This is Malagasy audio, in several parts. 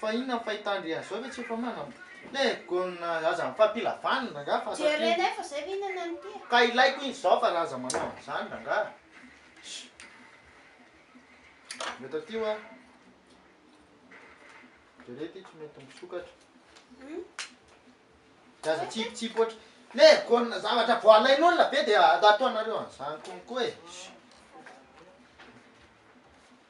Fa inona ny fahitandry azy zao ve tsy efa manam le gonna aza mifampila vaniny rangah fa satria Jerenay fa zay ve inona ny ty a. Ka ilaiko izy zao fa ra aza manao an'izany rangah a. Eto aty hoa. Jereo ty tsy mety misokatra. Dia aza tsipitsipy ohatry le gonna zavatra vao alain'olona ve dia ataonareo an'izany konko e.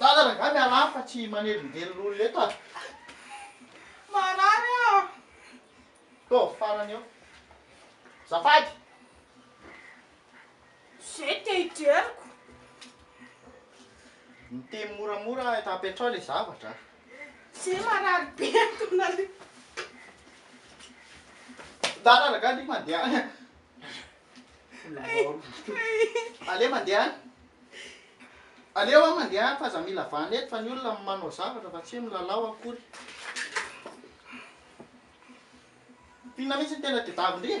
Dada rangah mialà fa tsy manelingelina olona eto ah. Marary aho. Tô, farany eo. Zafady. Zay te hijeriko. Miteny moramora eto apetrao le zavatra. Zay marary be tona le. Dada rangah dy mandeha any ah. Aleo mandeha any. Aleo aho mandeha any fa aza mila vahana eto fa ny olona manao zavatra fa tsy hoe milalao akory. Mpinona mihitsy ny tena tedavy ndry e.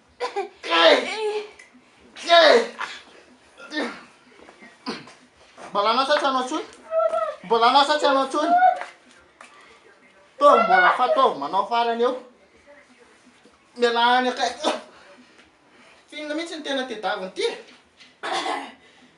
Mbola anao sa tsy anao intsony? Mbola anao sa tsy anao intsony? Taovy mbola fa taovy manao farany eo. Mialà any akaiky. Finga mihitsy ny tena tedaviny ity e.